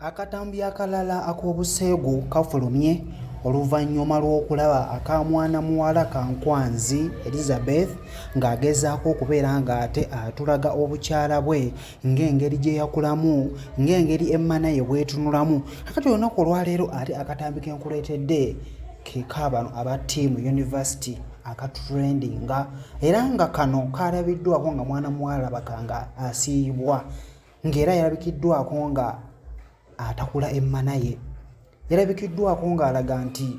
Akatambi akalala ak'obuseegu kafulumye oluvannyuma lw'okulaba aka mwana muwala Kankwanzi Elizabeth ng'agezaako okubeera ng'ate atulaga obukyala bwe ng'engeri gye yakulamu ng'engeri emmana ye bw'etunulamu kakati olunaku olwaleero ate akatambi ke nkuleetedde ke ka bano aba ttiimu yunivasiti akatrendinga era nga kano kaalabiddwako nga mwana muwala labaga nga asiiyibwa. ng'era yalabikiddwako nga atakula emmana ye yalabikiddwako ng'alaga nti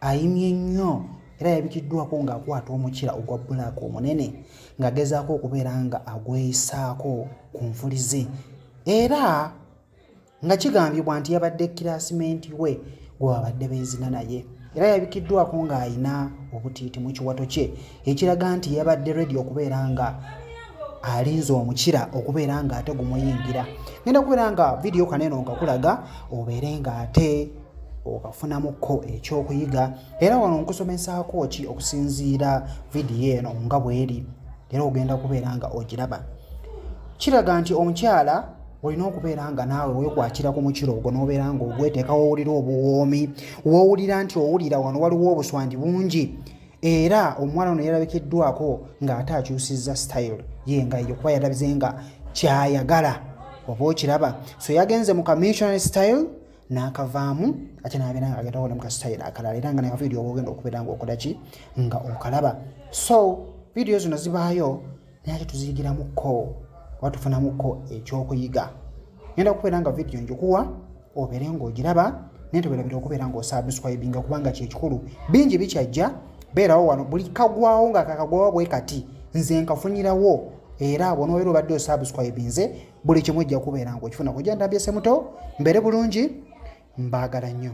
ayimye nnyo era yalabikiddwako ng'akwata omukira ogwa bulaaka omunene ng'agezaako okubeera nga agweyisaako ku nfuli ze era nga kigambibwa nti yabadde kiraasimenti we gwe babadde beezina naye era yabikiddwako ng'alina obutiiti mu kiwato kye ekiraga nti yabadde redi okubeera nga alinze omukira okubeera nga ate gumuyingira ngenda kubeera nga vidiyo kaneeno nga kulaga obeere nga ate okafunamukko ekyokuyiga era wano nkusomesaako ki okusinziira vidiyo eno nga bweri era ogenda kubeera nga ogiraba kiraga nti omukyala olina okubeera nga naawe wekwatira ku mukiro ogwo nobeera nga ogweteka wowulira obuwoomi wowulira nti owulira wano waliwo obuswangi bungi era omwana ono yalabikiddwako ng'ate akyusizza style ye nga eyo kuba yalabize nga kyayagala oba okiraba so yagenze mu kamissionary style n'akavaamu ate nabeera nga agenda okola mu kasitayiro akalala era nga ne kavidiyo ogenda okubeera nga okola ki nga okalaba so vidiyo zino zibaayo naye ate tuziyigiramuko oba tufunamuko ekyokuyiga ngenda kubeera nga vidiyo njikuwa obeere ng'ogiraba naye tewerabira okubeera ng'osabuscribinga kubanga kyekikulu bingi bikyajja beerawo wano buli kagwawo nga kakagwawo bwe kati nze nkafunirawo era bwonobeera obadde osabuscribinze buli kimu ojja kubeera ng'okifuna kujja ndambyesemuto mbeere bulungi mbaagala nnyo